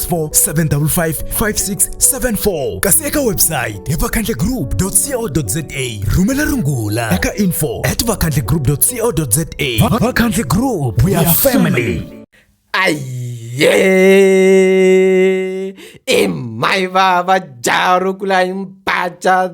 0754 kasi eka website hi vakhandlegroup co za rhumela rungula eka info at vakhandlegroup co za vakhandle group we are family aye e mai vava jarukulai mpacha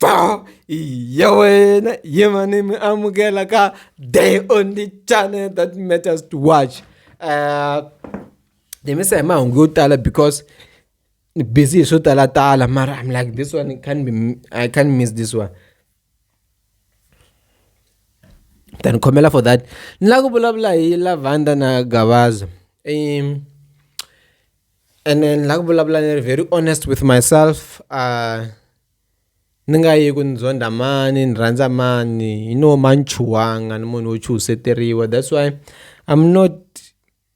Ba, ya wena yima ni mi amukela ka day on the channel that matters to watch uh, ni misa hi mahungu yo tala because ni busy hi swo talatala mara i'm like this one I can't, be, I can't miss this one ta ni khomela for that ni lava ku vulavula hi lavanda na gavaza um, and then ni lava ku vulavula ni ri very honest with myself uh, ni nga yi ku ni zonda mani ni rhandza mani you know ma ni chuhanga ni munhu wo chuhiseteriwa that's why I'm not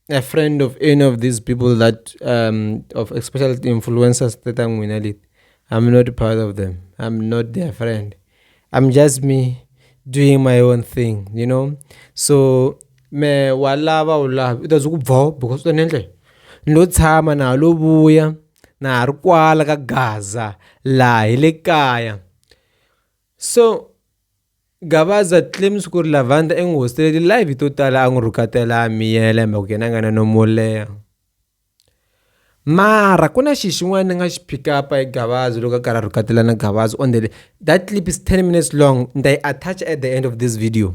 a friend of any of these people that um of especially influencers ta ta n'wina leti I'm not part of them I'm not their friend I'm just me doing my own thing you know so me wa lava u lava u ta ze ku bvo because u ta ni endla lo tshama na lo vuya na ha ri kwala ka Gaza laha hi le kaya so Gavaza claims ku ri Lavanda i n'wi hosteleli live to tala a n'wi rhukatela a miyela hi mhaka ku yena a nga na nomo wo leha mara ku na xi xin'wana ni nga xi pick up hi gavazo loko a karhi a rhukatela na gavazo on the that clip is 10 minutes long ni ta yi attach at the end of this video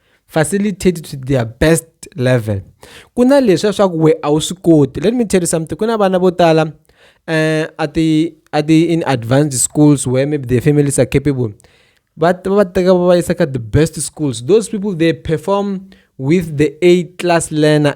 facilitated to their best level ku na leswi ya swa ku we a wu swi koti let me tell you something ku na vana vo tala um a ti a ti in advanced schools where maybe their families are capable va va teka va va yisa ka the best schools those people they perform with the a class learner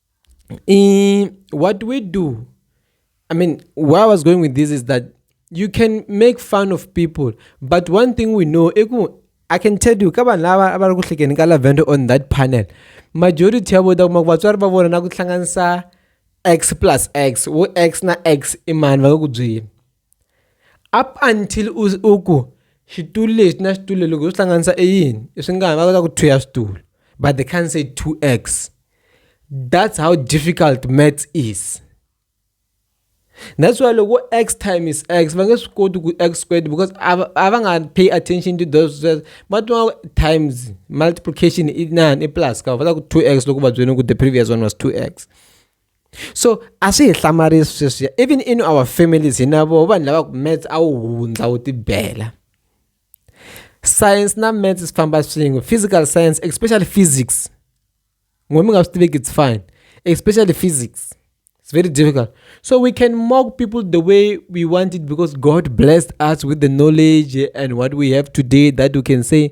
Eh, what we do, I mean, where I was going with this is that you can make fun of people, but one thing we know, I can tell you, ka vanhu lava va ri ku hlekeni ka lavender on that panel majority ya vota kuma ku vatswari va vona na ku hlanganisa x plus x wo x na x i mani va nga ku byeli up until u u ku xitulu lexi na xitulu loko u swi hlanganisa i yini i swi nga ha va kota ku two ya switulu but they can't say two x that's how difficult maths is that's why loko x time is x va nge swi koti ku x squared because a va a va nga pay attention to those sweswo va twa times multiplication i inani i plus ka va ta ku two x loko va byele ku the previous one was two x. so a swi hi hlamarisi sweswiya even in our families hina vo vanhu lava ku mats a wu hundza wu tibela science na mats swi famba swin'we physical science especially physics n'we mi nga swi tiveki it's fine especially physics it's very difficult so we can mock people the way we want it because god blessed us with the knowledge and what we have today that we can say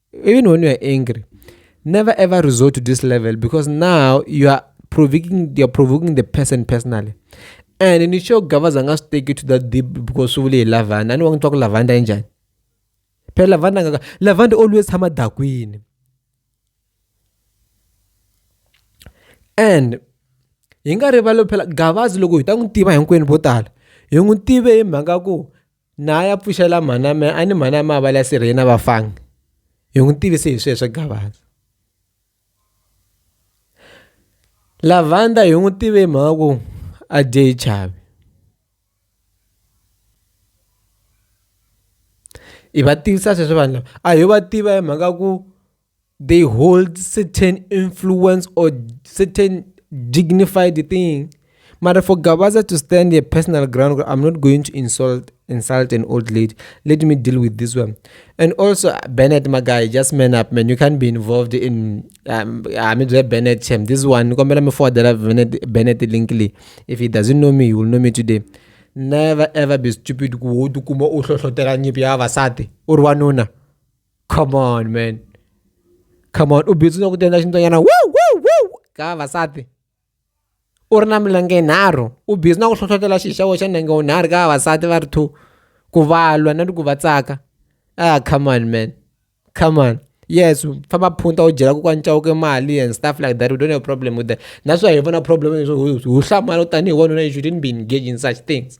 even when you are angry never ever resort to this level because now you are provoking you are provoking the person personally and nisho gavaza angasiteki to that deep because uvule yilavanda ani wangithiwa kulavanda enjani phela lavanda ngaka lavanda always hama dakwini and hi nga rivali phela gavazi loko hi ta n'wi tiva hinkwenu vo tala hi n'wi tive hi mhaka ku Na a ya pfuxela mhaname a ni mhaname a vala sirheni a va fangi hi n'wi tivise hi sweswo gavaza lavanda hi n'wi tive hi mhaka ku a dye hi chavi hi va tivisa sweswo vanhu lava a hi va tiva hi mhaka ku they hold certain influence or certain dignified thing mara for gabaza to stand a personal ground i'm not going to insult insult an old lady let me deal with this one and also bennett my guy just man up man you can't be involved in um, i mean bennett him this one bennett linkley if he doesn't know me he will know me today never ever be stupid ku kuma u hlohlotela nyipi ya vavasati u ri wanuna come on man come on u bizi no kutenda xintsonyana wu wu wu ka vavasati u ri na milenge yinharhu u bizi na ku hlohlotela xi xa xa nenge wunharhu ka vavasati va ri two ku valwa na ku va tsaka ah come on man come on yes famba phunta u byela ku ka ncawuke mali and stuff like that we don't have problem with that naswona hi vona problem hi hlamala tanihi wanuna you shouldn't be engaged in such things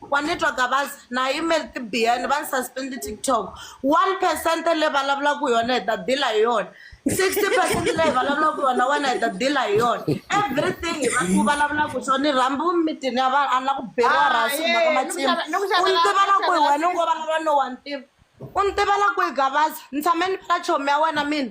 Wa ni twa Gavaza na yimeli ti biyani va ni suspend TikTok one percent leyi va lavulaku yona hi ta deal hi yona sixty percent leyi hi va lavulaku yona wena hi ta deal hi yona everything hi va ku vulavulaku swo ni rhambi mitini ya vanhu a ni la ku beriwa Ah, rasi yeah, mhaka ni ku matsimi xava- ni ku u xavela- ni tiva la ku kwihi xavela wena u ngo vulavula no wa ni tiva u ni tiva la kwihi Gavaza ni tshame ni vala chomi ya wena mina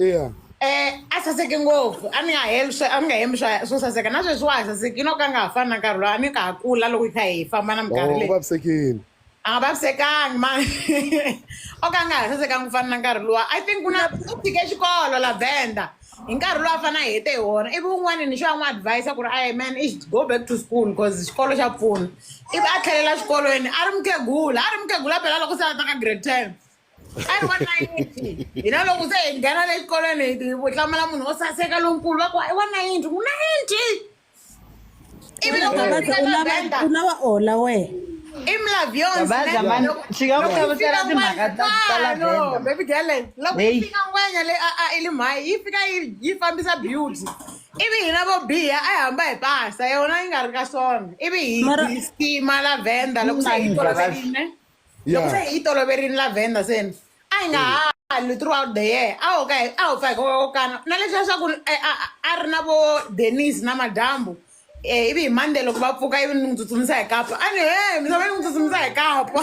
eya um a saseki ngopfu a ni nga heli swa a ni nga hembi swa swo saseka na sweswi wa ha saseki yi no ka a nga ha fani na nkarhi lowu a ni ka ha kula loko hi kha hi famba na o minkarhi u leyi vavisekile a nga vavisekangi ma o ka a nga ha sasekangi ku fana na nkarhi luwa i think ku na u tshike xikolo la venda hi nkarhi lowu a fane a hete hi wona ivi un'wana ni xo a n'wi advise ku ri ayi man i should go back to school because xikolo xa pfuna ivi a tlhelela xikolweni a ri mukhegula a ri mukhegula phela loko se a ta ka grade ten a ri wa nayinti hi na loko se hi nghena le xikolweni hi hi hlamala munhu o saseka lonkulu va ku i wa nayinti u nayinti ivi loko Gabaza, fika u na lava- benda u lava ola wehe Gabaza, man, tshika ku hlamusela timhaka ta- ta lavender. baby gele loko Hey. yi fika ngwenya le a a i li mhayi yi fika yi yi fambisa beauty ivi hina vo biha a yi hamba hi pasa yona yi nga ri ka swona ivi hi Mara- hi stima lavenda loko se hi Mani, Gabaza. toloverile loko se hi yi toloverini lavenda seni a hi nga ha halwi throughout the year a ho ka hi- a ho pfa hi kokana na leswi leswaku eh, a- a- a ri na vo denis na madyambu um ivi hi monday loko va pfuka ivi ni n'wi tsutsumisa hi kapa a ni he misava ni n'wi tsutsumisa hi kapa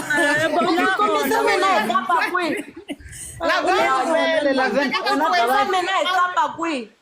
kombisa mina hi kapa kwihi Lavenda, Lavenda, Lavenda, kombisa mina hi kapa kwihi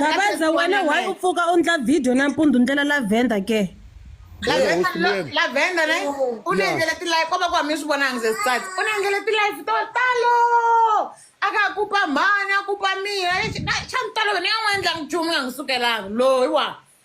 Babaza wena why u pfuka u ndla video nampundzu ndlela lavender ke lavender ne u ni endlele tilife ko va ku hami ni swi vonangi ze sisati u ni endlele tilife to talo a ka a kupa mhani a kupa mina xa ni tolovele ni nga n'wi endlangi nchumu nga n'wi sukelanga loyi wa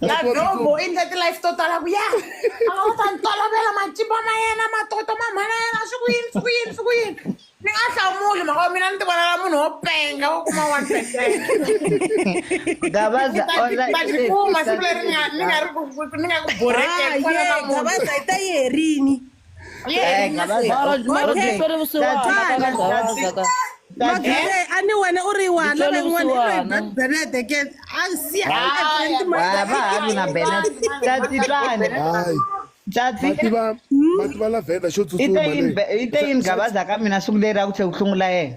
nadombo i ndla ti-life to tala ku ya a va ta ni tolovela matimba ma yena matoto ma mhana yena swi ku yini swi ku yini swi ku yini ni nga hlamuli mhaka wa mina ni ti vonela munhu wo penga wo kuma one percent gabaza tikuma siku leri ni nga ni nga ri ku ni nga ku borhekeni gabaza yi ta yi herini magere a ni wena u ri wana van'wanabenete ke a siaaativa lavhenda xo tsutsuma i te yini gabaza ka mina siku leri a ku tlhe ku hlungula yena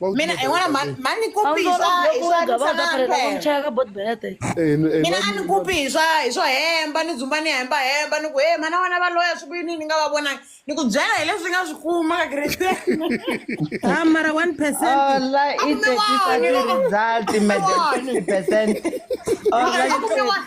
mina i n'wana mhani mhani ni kupi hi swa hi swa ni sanamphela cheka bot bete Eh, n- eh, mina a ni kupi hi swa hi swo hemba ni dzumba ni hemba hemba ni ku he mhana wena va loya swi ku yini ni nga va vonangi ni ku byela hi leswi nga swi kuma ka kristen Ah, mara 1 percent. Ola i Akume tetisa wani, ti loko- result madam Wani. 60%. Ola Akume wani.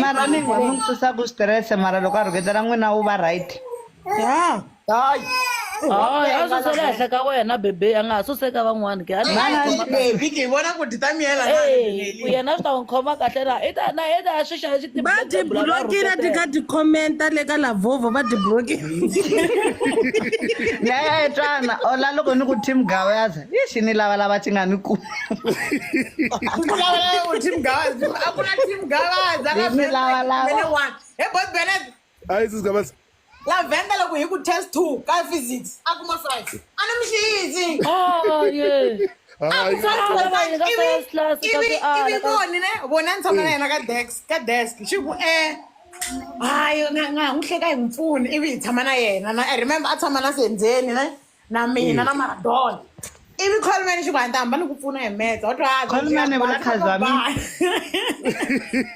mara mimi sasa kustress mara loko a rhuketela n'wina wu va right ya hayi Hayi, a susela henhla ka wena bebe a nga ha suseka van'wana ke a ni- vhiki hi vona ku dyi ta miyela na Hey, ku yena swi ta n'wi khoma kahle na i ta na i ta swi xava xi va ti blokile ti ka ti commenta le ka lavovo va ti blokile nayayetwana ola loko ni ku team gawaza ixi ni lavalava ti nga ni ku Kulawula team Gavazi. Hakuna team Gavazi. Rini lawalawa. Mene one. Hey boy Bennett. Hi, this is Gavazi. Lavenda loko hi ku test 2 ka physics a kuma 5. Ana mi xiyizi. Oh yeah. Hi. Ivi voni ne vona ni tshama na yena ka desk ka desk xi ku eh hayi nga nga n'wi hleka hi n'wi pfuni ivi hi tshama na yena na i remember a tshama na sendzeni ne na mina Eh. na maradona ivi colman xi ku a ni ta hamba ni ku pfuna hi metsa wa twa Coleman i vula khazwa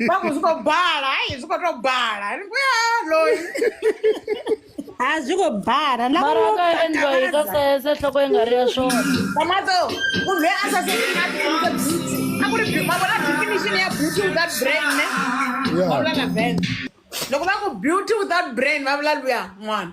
va ku swi ko bala hayi swi ko to bala ni ku ya loyi a swi ko bala la mara a ka endliwa yi ka sese nhloko yi nga ri ya swona tomato munhu loyi a sasekina tinyike beauty a ku ri beau- ma vona definition ya beauty without brain ne va vula na vent loko va ku beauty without brain va vula luya n'wana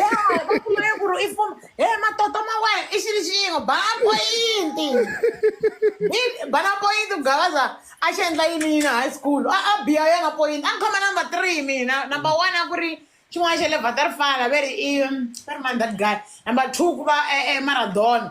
ya va kumile ku ri i fuma he matoto ma wena i xilo xin'we bala poyinti I- bala poyinti ku gavaza a xi endla yini yini high school a a biya yona poyinti a ni khoma number three mina number one a ku ri xin'wana xa le vaterfala ve ri i ve ri mani that guy number two ku va eh, eh, maradona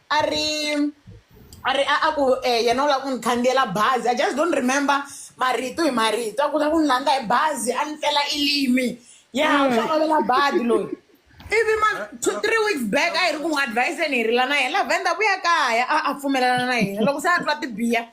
a ri a ri a a ku eh, yena u lava ku ni khandziyela bazi i just don't remember marito hi marito a ku lava ku ni landza hi bazi a ni pfela ilimi ya u hlangovela badi loyi ivi ma two three weeks back a hi ri ku n'wi adviseni hi rila na yena la venda vuya kaya a a pfumelelana na yena loko se a twa tibiya